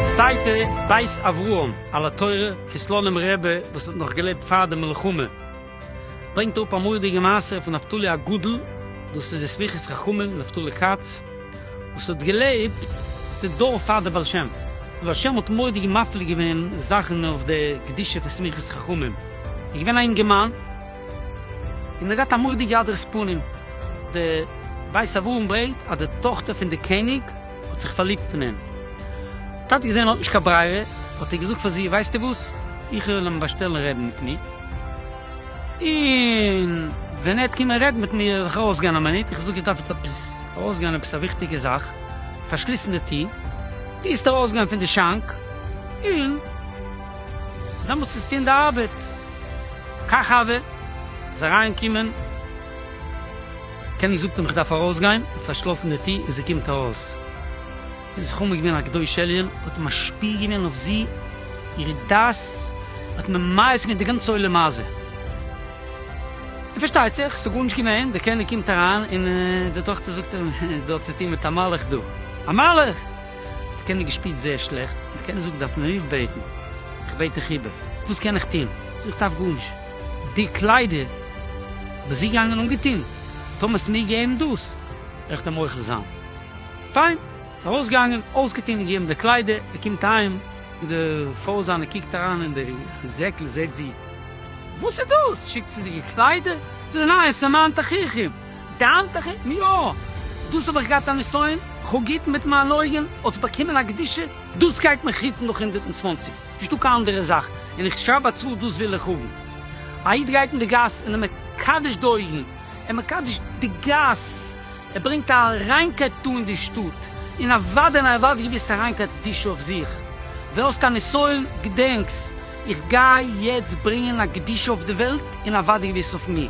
ספר בית אברהם על התורה, כסלונים רבי וואס האט נאך געלעבט פאר די מלחמה. ברענגט אראפ א מורא'דיגע מעשה פון נפתלי הגדול, דאס איז די סמיכות חכמים נפתלי כץ, וואס האט געלעבט די דור פאר די בעל שם, די בעל שם האט מורא'דיג מפליא געווען זאכן אויף די קדושה פון סמיכות חכמים, ער איז געווען א אינגערמאן, און ער האט געהאט א מורא'דיגע הדרת פנים, די בית אברהם ברענגט אז די טאכטער פון די קעניג, האט זיך פארליבט אין אים. ווען טאטי געזען ער האט נישט קיין ברירה, האט ער געזאגט פאר זי, ווייסטו וואס, איך וועל אים באשטעלן רעדן מיט מיר, און ווען ער וועט קומען רעדן מיט מיר וועל איך ארויסגיין א מינוט, איך זאג ער דארף עפעס ארויסגיין עפעס א וויכטיגע זאך, פארשליסן די טיר, טוסט ארויסגיין פון די שאנק, און דעמאלטס טוסט טון די ארבעט. קאך אווען איז אריינגעקומען. קעניג זאגט אים איך דארף ארויסגיין, און פארשלאסן די טיר, און זי קומט ארויס, איז עס חמה געווען א קדוש עליון, האט משפיע געווען אויף זי, איר דעת האט ממאס געווען די גאנצע עולם הזה, און פארשטייט זיך ס'איז גארנישט געווען, דער קעניג קומט אריין, און די טאכטער זאגט אים, דו האט צו טון מיט א מלאך דא, א מלאך! דער קעניג געשפירט זייער שלעכט, דער קעניג זאגט דארף מען מיר בעטן, איך בעט דיך איבער, וואס קען איך טון, זי איך דארף גארנישט. די קליידער וואס זי געגאנגען אנגעטון, טאר מען עס מיר געבן דאס? איך דעם מוחל זיין. פיין. ארויסגעגאנגען, אויסגעטון און געגעבן די קליידער, ער קומט אהיים מיט די פאות זיינע קוקט אריין אין די זעקל זעט זי, וואס איז דאס? שיקצעדיגע קליידער? זאגט ער, ניין, עס איז מיין תכריכים. דיין תכריכים? יא! דאס האב איך געהאט א נסיון, כ'האב געהיטן מיט מיינע אויגן, האט עס באקומען א קדושה, דאס גייט מיך היטן נאך הונדערט און צוואנציג. נישט דא קיין אנדערע זאך, און איך שרייב א צוואה דאס וויל איך האבן. א איד גייט אין די גאס און ער מקדש די אויגן, ער מקדש די גאס, ער ברענגט א ריינקייט דא אין די שטאט, און אוודאי און אוודאי געוויסע ריינקייט קדושה אויף זיך. ווער האסט א נסיון, געדענקס, איך גיי יעצט ברענגען א קדושה אויף די וועלט און אוודאי געוויס אויף מיר.